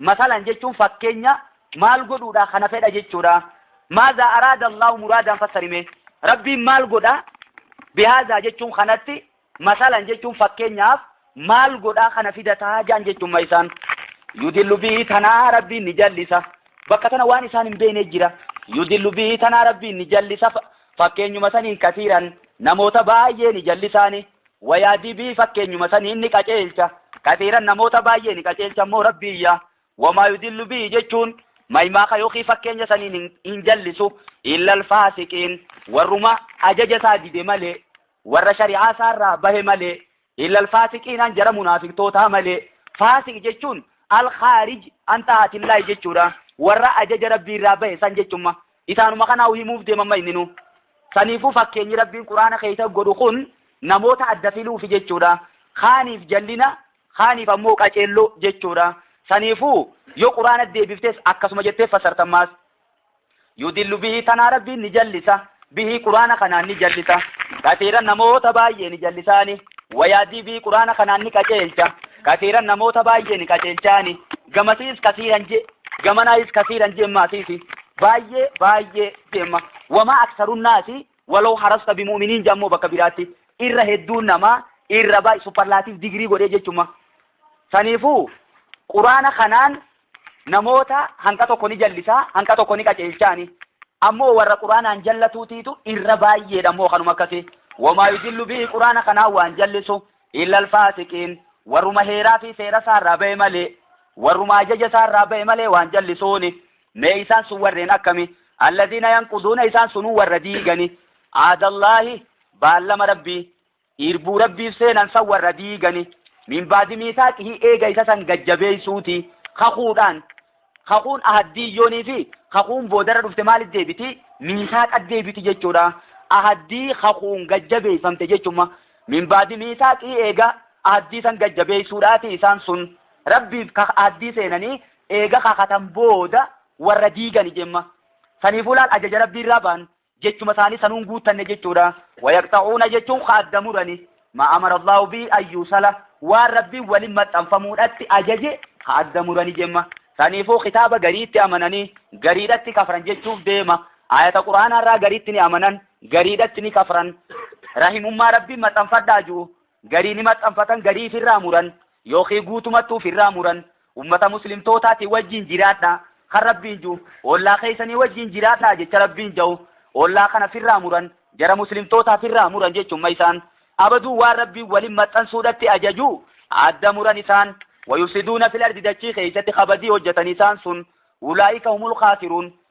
Masalan jechuun fakkeenya maal godhuudha kana fedha jechuudha. Maazaa araada Allahu muraadaan fassarime. Rabbiin maal godha bihaazaa jechuun kanatti masalan jechuun fakkeenyaaf maal godhaa kana fidataa jaan jechuun maisaan. Yudillu bihi tanaa rabbiin ni jallisa. Bakka tana waan isaan hin beekne jira. Yudillu bihi tanaa rabbiin ni jallisa. Fakkeenyuma saniin kasiiran namoota baay'ee ni jallisaani. Wayaa dibii fakkeenyuma saniin ni qaceelcha. Kasiiran namoota baay'ee ni qaceelcha immoo Rabbiin yaa. Wamaa yudillu bihi jechuun maymaaka yookiin fakkeenya saniin hin, hin jallisu. Illal faasiqiin warruma ajaja isaa dide malee, warra shari'aa isaa irraa bahe malee, illal faasiqiinaan jara munaafiqtootaa malee. Faasiq jechuun al-khaarij an xaa'atillaahi jechuudha. Warra ajaja Rabbii irraa bahe san jechumma. Isaanuma kanaa himuuf deemamma inninuu. Saniifuu fakkeenyi Rabbiin Qur'aana keessa godhu kun namoota adda filuufi jechuudha. Kaaniif jallina, kaaniif ammoo qaceelloo jechuudha. Saniifuu yoo Qur'aana deebiftes akkasuma jettee fassarta ammaas. Yudillu bihi tanaa Rabbiin ni jallisa. Bihi Qur'aana kanaan ni jallisa. Kasiiran namoota baay'ee ni jallisaani. Wayaadii bihi Qur'aana kanaan ni qaceelcha. Kasiiran namoota baay'ee ni qaceelchaani. Gamasiis kasiiran je gamanaayis kasiiran jeemmaa siisi baay'ee baay'ee jeemma wamaa aksarunnaasi waloo harasta bimu'miniin jammoo bakka biraatti irra hedduun namaa irra baay'ee supparlaatiif digirii godhee jechuma saniifuu quraana kanaan namoota hanqa tokko ni jallisaa hanqa tokko ni qaceelchaani ammoo warra quraanaan jallatuutiitu irra baay'eedha ammoo kanuma akkasii wamaa yudillu bihi quraana kanaan waan jallisu Illal faasiqiin, warruma heeraa fi seera isaa irraa ba'e malee, warruma ajaja isaa irraa ba'e malee waan jallisuuni. Mee isaan sun warreen akkami? Alladiina yanquduuna isaan sunuu warra diigani, Ahadallaahi, baallama Rabbii, irbuu Rabbiif seenan san warra diigani, min ba'di miisaaqihi eega isa san gad jabeeysuuti, kakuudhaan, Kakuun ahaddii yoonii fi kakuun boodarra dhufte maalit deebiti? Miisaaqat deebiti jechuudha. Ahaddii kakuun gad jabeeffamte jechumma. Min baadi miisaaqii eega ahaddii san gad jabeessuudhaati isaan sun Rabbiif ka ahaddii seenanii eega kakatan booda warra diigani jemma. Saniifuu laal ajaja Rabbiirraa bahan jechuma isaanii sanuun guuttanne jechuudha. Wayaqxa'uuna jechuun ka adda murani maa amara Allaahu bihi an yuusala waan Rabbiin walin maxxanfamuudhatti ajaje ka adda murani jemma. Saniifuu kitaaba gariitti amananii gariidhatti kafran jechuuf deema. Aayata Qur'aanaa irraa gariitti ni amanan gariidhatti ni kafran. Rahimummaa Rabbiin maxxanfadhaa ju'u Garii ni maxxanfatan garii ifirraa muran yookiin guutumatti ufirraa muran ummata muslimtootaatiin wajjiin jiraadhaa kan Rabbiin ju, ollaa keessanii wajjiin jiraadhaa jecha Rabbiin ja'u ollaa kana firraa muran jara muslimtootaa firraa muran jechumma isaan abaduu waan Rabbiin walin maxxansuudhatti ajaju adda muran isaan wayufsiduuna fil ardi dachii keessatti kabadii hojjatan isaan sun ulaa'ika humul khaasiruun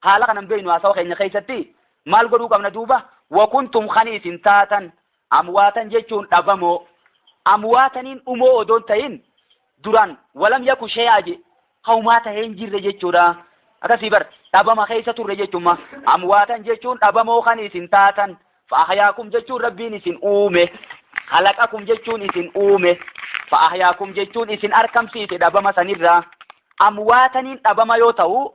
Haala kana hin beeknu haasawa keenya keessatti maal godhuu qabna duuba? Wakuntum kan isin taatan amwaatan jechuun dhabamoo amwaataniin dhumoo odoo hin ta'in duraan walam yaku shee'aa je haumaa ta'ee hin jirre jechuudha. Akkasii bar dhabama keessa turre jechuumma amwaatan jechuun dhabamoo kan isin taatan fa'ahyaakum jechuun rabbiin isin uume kalaqakum jechuun isin uume fa'ahyaakum jechuun isin arkamsiise dhabama sanirraa amwaataniin dhabama yoo ta'u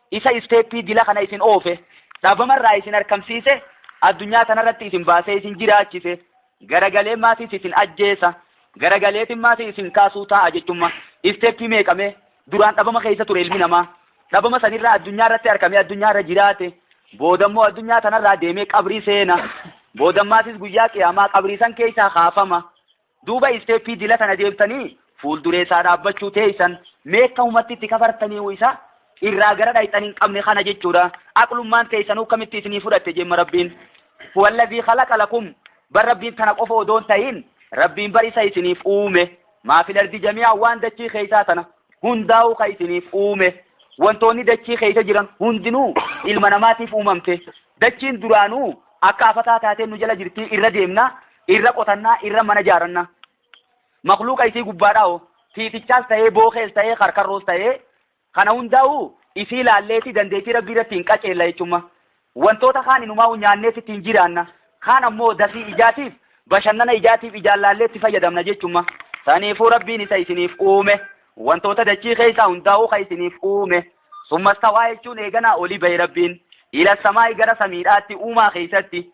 isa isteeppii dila kana isin oofe dhabamarraa isin harkamsiise addunyaa tanarratti isin baasee isin jiraachise garagalee maatiis isin ajjeesa garagaleetiin maatii isin kaasuu taa'a jechumma isteeppii meeqamee duraan dhabama keessa ture ilmi namaa dhabama sanirraa addunyaa irratti harkamee addunyaa irra jiraate boodammoo addunyaa tanarraa deemee qabrii seena boodammaatiis guyyaa qiyaamaa qabrii san keessaa kaafama Duuba isteeppii dila tana deemtanii fuulduree isaa dhaabbachuu teessan meekka humatti itti kafartaniihu isa irraa gara dhayxan hin qabne kana jechuudha. Aqlummaan teessanuu akkamitti isinii fudhatte jemma Rabbiin. Huwallazii khalaqa lakum bar Rabbiin tana qofa odoon tahin Rabbiin bar isa isiniif uume maa fil ardi jamii'an waan dachii keessaa tana. hundaa'uu kan isiniif uume wantoonni dachii keessa jiran hundinuu ilma namaatiif uumamte dachiin duraanuu akka afataa taatee nu jala jirtii irra deemna irra qotannaa irra mana jaaranna makluuqa isii gubbaadhaa hoo tiitichaas ta'ee bookees ta'ee karkarroos ta'ee kana hundaa'uu isii laalleeti dandeettii rabbii irratti hin qaceella jechuumma Wantoota kaan inumaa'uu nyaanneeti ittiin jiraanna. Kaan ammoo dafii ijaatiif, bashannana ijaatiif ijaan laallee itti fayyadamna jechumma. Saniifuu Rabbiin isa isiniif uume, wantoota dachii keessaa hundaa'uu ka isiniif uume. Summa stawaa jechuun eeganaa oli bahe Rabbiin, ila samaa'i gara samiidhaatti uumaa keessatti,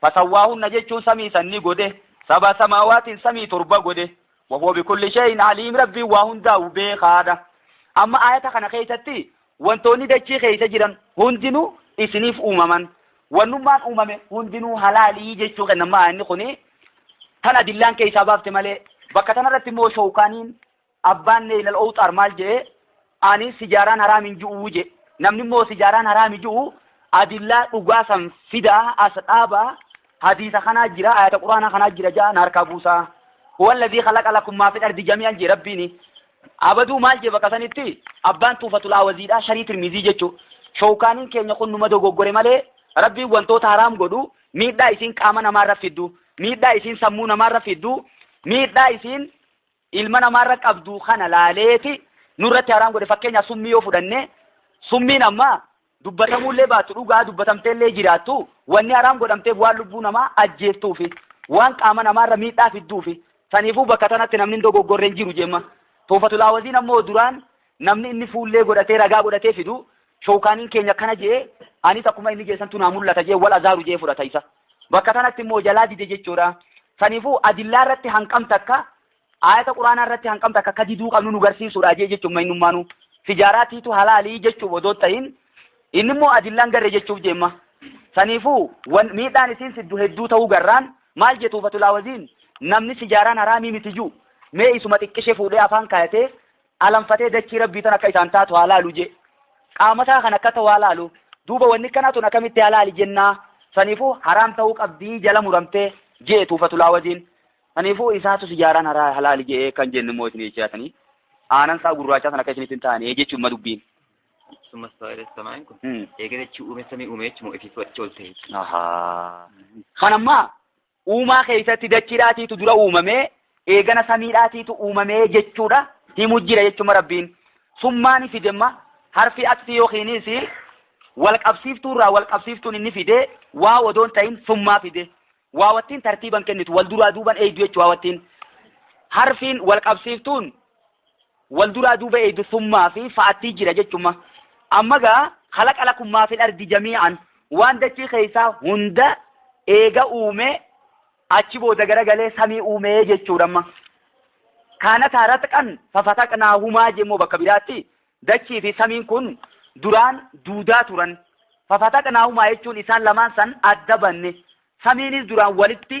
Fasawwaahunna jechuun samii san ni godhe, Sab'a samaawaatin samii torba godhe, Wahuwa bikulli shay'in aliim Rabbiin waa hundaahu beekhaadha. Amma aayata kana keessatti wantoonni dachii keessa jiran hundinuu isiniif uumaman, wannummaan uumame hundinuu halaali jechuu kenna amma aayanni kuni tan adillaan keessaa baafte malee, bakka tanarratti immoo showkaaniin Abbaan Neyl al-Owxaar maal je'e? Ani sijaaraan haraam hin ju'u je'e. Namni immoo sijaaraan haraami ju'u adillaa dhugaa san fidaa as dhaaba hadiisa kanaa jira ayata quraanaa kanaa jira ja'a na harkaa buusaa. Huwalladhii khalaqa lakum maa fil ardi jamii'an jee rabbiini. Abaduu maal jee bakka sanitti abbaan tuufatul awaziidhaa sharii tirmizii jechuu. Showkaaniin keenya kun numa dogoggore malee rabbiin wantoota haraam godhu miidhaa isiin qaama namaarra fiddu miidhaa isiin sammuu namaarra fiddu miidhaa isiin ilma namaarra qabdu kana laaleeti nurratti haraam godhe fakkeenyaaf summii yoo fudhanne summiin amma dubbatamuullee baatu dhugaa dubbatamteellee jiraattu wanni haraam godhamteef waan lubbuu namaa ajjeeftuufi waan qaama namaarra miidhaa fidduufi saniifuu bakka tanatti namni hin dogoggorreen jiru jemma toofatulaawaziin ammoo duraan namni inni fuullee godhatee ragaa godhatee fidu Showkaaniin keenya akkana je'ee, anis akkuma inni je'e santu naa mul'ata je'ee wal azaaru je'ee fudhata isa. Bakka tanatti immoo jalaa dide jechuudha. Saniifuu adillaa irratti hanqam takka aayata quraanaa irratti hanqam takka akka diduu qabnu nu garsiisuudha jee jechuun maynummaanuu. Tijaaraa tiitu halaalii jechuuf odoo ta'in inni immoo adillaan garre jechuuf jeemma. Saniifuu wan miidhaan isiin siddu hedduu ta'uu garraan maal jetuu fatulaa waziin namni sijaaraan haraamii miti juu mee isuma xiqqishe fuudhee afaan kaayatee alanfatee dachii Rabbii tan akka isaan taatu haa laalu jee. Qaamasaa kan akkata waa laalu. Duuba wanni kanaa tun akkamitti halaali jennaa. Saniifuu haraam ta'uu qabdii jala muramtee jee tuufatulaa wajiin. Saniifuu isaatu sijaaraan haraa halaali je'ee kan jennu immoo isin jechaa sanii. Aanan isaa gurraachaa san akka isinitti hin taane jechuun ma dubbiin. Summa stawaa ila samaa'i kun. Hmm. Eega dachii uume samii uume jechuun ofiif walitti ol ta'e. Ahaa. Kan ammaa uumaa keessatti dachiidhaatiitu dura uumamee eegana samiidhaatiitu uumamee jechuudha himu jira jechuma rabbiin summaani fidemma harfi atfi yookiinis wal qabsiiftuu irraa wal qabsiiftuun inni fide waa odoon ta'in summaa fide waa wattiin tartiiban kennitu wal duraa duuban eegdu jechuu waa wattiin harfiin wal qabsiiftuun wal duraa duuba eeydu summaa fi fa'attii jira jechumma amma gaa khalaqa lakum maa fil ardi jamii'an waan dachii keessaa hunda eega uumee achi booda garagalee samii uumee jechuudha amma kaanataa ratqan fafataqnaahumaa jemmoo bakka biraatti dachii fi samiin kun duraan duudaa turan fafataqnaahumaa jechuun isaan lamaan san adda banne samiinis duraan walitti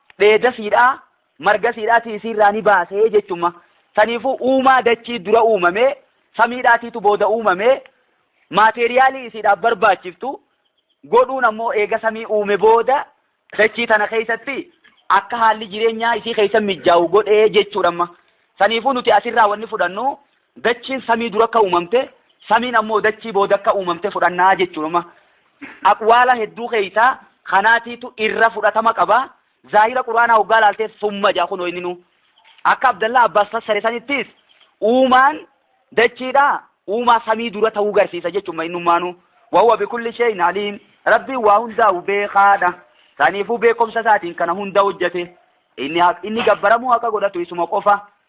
dheeda siidhaa marga siidhaatii isiirraa ni baasee jechumma. Saniifuu uumaa dachii dura uumamee samiidhaatiitu booda uumamee maateeriyaalii isiidhaaf barbaachiftu godhuun ammoo eega samii uume booda dachii tana keessatti akka haalli jireenyaa isii keessa mijjaawu godhee jechuudha amma. Saniifuu nuti asirraa wanni fudhannu Dachiin samii dura akka uumamte, samiin ammoo dachii booda akka uumamte fudhanna jechuudha. Amma aqwaala hedduu keeysaa kanaatiitu irra fudhatama qaba. Zaahira Qur'aanaa hoggaa laaltee summa jedha kunoo inninuu. Akka Abdallaa Abbaas fassare sanittis uumaan dachiidhaa uumaa samii dura ta'uu garsiisa jechuudha innummaanuu. Wahuwa bikulli shay'in aliim. Rabbiin waa hundaa'u beekaadha. Saniifuu beekomsa isaatiin kana hunda hojjate. Inni, haq, inni gabbaramuu haqa godhatu isuma qofa.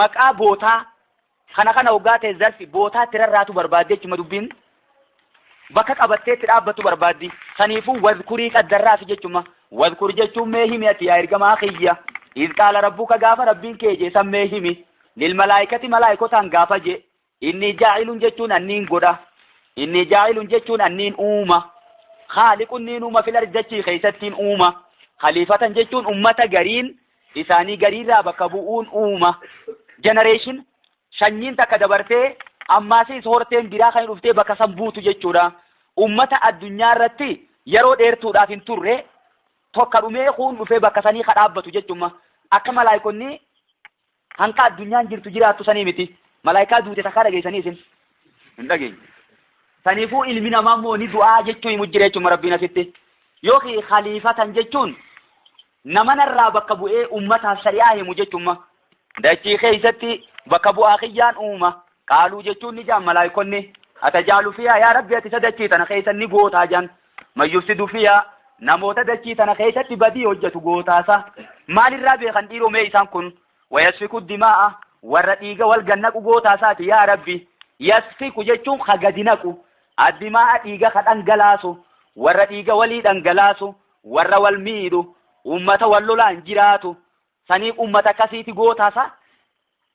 Maqaa bootaa kana kana hoggaa ta'e zarfi bootaa itti rarraatu barbaaddi jechuma dubbiin bakka qabattee itti dhaabbattu barbaaddi saniifuu wadkurii qaddarraafi jechuma wadkur jechuun mee himi ati yaa ergamaa kiyya izqaala rabbuka gaafa rabbiin kee jee san mee himi lilmalaayikati malaayikotaan gaafa jee Inni jaa'ilun jechuun anniin godha. Inni jaa'ilun jechuun anniin uuma. Khaaliqun niin uuma fil ardi dachii keessattiin uuma. Khaliifatan jechuun ummata gariin isaanii gariirraa bakka bu'uun uuma. Generation sanyiin takka dabartee ammaasiis horteen biraa kan dhuftee bakka san buutu jechuudha. Ummata addunyaa irratti yeroo dheertuudhaaf hin turre tokka dhumee kuun dhufee bakka sanii ka dhaabbatu jechumma. Akka malaayikonni Kan ka addunyaan jirtu jiraattu sanii miti. Malaayikaa duute takkaa dhageessanii isin? Hin dhageenye. Saniifuu ilmi namaa immoo ni du'aa jechuu himu jira jechuun rabbiin asitti. Yookiin khaliifatan jechuun nama narraa bakka bu'ee ummataaf shari'aa himu jechuun dachii keessatti bakka bu'aa kiyyaan uuma qaaluu jechuun ni jaan malaayikonni atajaalu fiyaa yaa rabbi ati isa dachii tana keessa ni gootaa jaan Man yufsidu fiihaa Namoota dachii tana keessatti badii hojjatu gootaasaa. Maalirraa beekan dhiiroo mee isaan kun? Wayasfiku dimaa'a Warra dhiiga wal gannaqu gootaasaati yaa Rabbi. Yasfiku jechuun ka gadi naqu. Addimaa'a dhiiga ka dhangalaasu. Warra dhiiga walii dhangalaasu. Warra wal miidhu. Ummata wal lolaan jiraatu. Saniif ummata akkasiiti gootaasaa.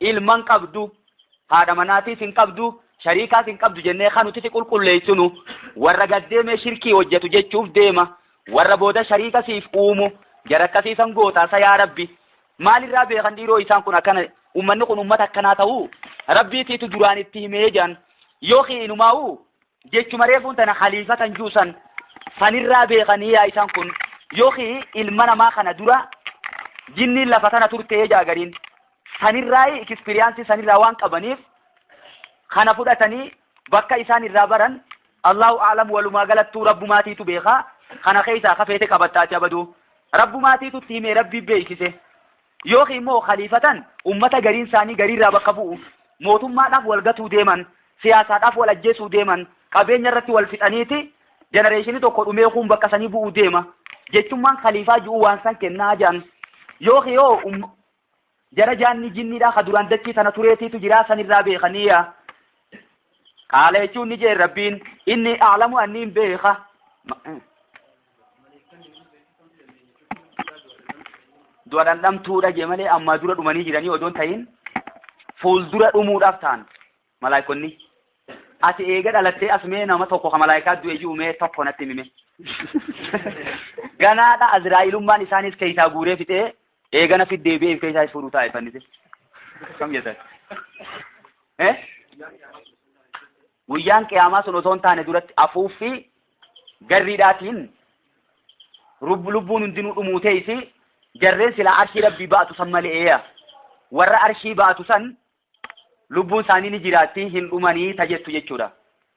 ilma hin qabdu, haadha manaatiis hin qabdu, shariikaas hin qabdu jennee kan nuti si qulqulleessinu warra gaddeemee shirkii hojjetu jechuuf deema warra booda shariika siif uumu jara akkasii san gootaa sa yaa rabbi maalirraa beekan dhiiroo isaan kun akkana ummanni kun ummata akkanaa ta'uu rabbiitiitu duraan itti himee jedhan yookiin inumaa'u jechuma reefuun tana khaliifa kan juusan sanirraa beekanii yaa isaan kun yookiin ilma namaa kana dura jinniin lafa tana turtee jaagariin sanirraa ikispiriyaansii sanirraa waan qabaniif kana fudhatanii bakka isaan irraa baran Allahu a'lam walumaa galattuu rabbumaatiitu beekaa kana keessaa kafeete qabattaati abaduu rabbumaatiitu itti himee rabbii beeksise yookiin immoo khaliifatan ummata gariin isaanii gariirraa bakka bu'u mootummaadhaaf wal gatuu deeman siyaasaadhaaf wal ajjeesuu deeman qabeenya irratti wal fixaniiti jenereeshinii tokko dhumee kuun bakka sanii bu'uu deema jechummaan khaliifaa ji'uu waan san kennaa jedhan yookiin yoo Jara jaanni jinniidhaa ka duraan dachii tana tureetiitu jiraa san irraa beekaniiya. Qaala jechuun ni jeen rabbiin inni aalamu anniin beeka. Du'a dhandhamtuudha jee malee ammaa dura dhumanii jiranii odoon tahin fuuldura dhumuudhaaf ta'an. Malaaykonni. Ati eega dhalattee as mee nama tokko ka malaaykaa du'e ji'u mee tokko natti himi mee. Ganaadha Azraa'ilummaan isaanis keessaa guuree fixee eegana fiddee beef keessaa is fuudhuu taa'e fannise. Kam jettan? Eh? Guyyaan qiyaamaa sun osoo hin taane duratti afuuffii garriidhaatiin rub- lubbuun hundinuu dhumuu teessi jarreen silaa arshii rabbii ba'atu san maleeya. Warra arshii ba'atu san Lubbuun isaanii ni jiraatti, hin dhumanii ta jettu jechuudha.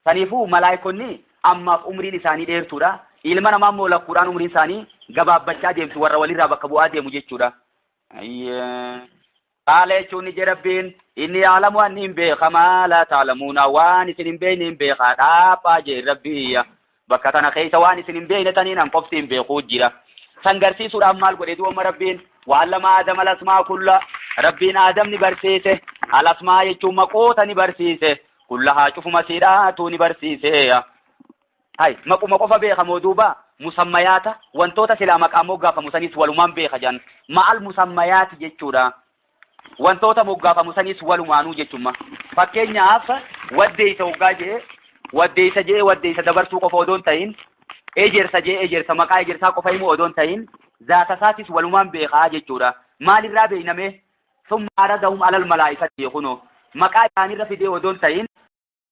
Saniifuu malaaykonni ammaaf umriin isaanii dheertuudha. Ilma namaa immoo lakkuudhaan umriin isaanii gabaabbachaa deemti, warra walirraa bakka bu'aa deemu jechuudha. Qaala jechuun ni jedha Rabbiin, inni yaalamu anni hin beeka maa laa taalamuuna waan isin hin beekne hin beeka dhaabaa jeen Rabbii. Bakka tana keessa waan isin hin beekne taniin an qofti hin beekuu jira. San garsiisuudhaaf maal godhe du'ooma Rabbiin waallama Aadama lasmaa kulla Rabbiin Aadam ni barsiise alasmaa jechuun maqoota ni barsiise kulla haa cufuma siidhaatuu ni barsiiseeya. Hay maquma qofa beeka moo duuba musammayaata wantoota silaa maqaa moggaafamu sanis walumaan beeka jedhan ma'al musammayaati jechuudha. wantoota moggaafamu saniis walumaanuu jechumma. Fakkeenyaaf waddeessa hoggaa jee waddeessa jee waddeessa dabarsuu qofa odoon ta'in ejersa jee ejersa maqaa ejersaa qofa immoo odoon ta'in zaata isaatis walumaan beekaa jechuudha. Maalirraa beeynamee? Summa aradahum alal malaa'ikati kunoo maqaa isaanirra fidee odoon ta'in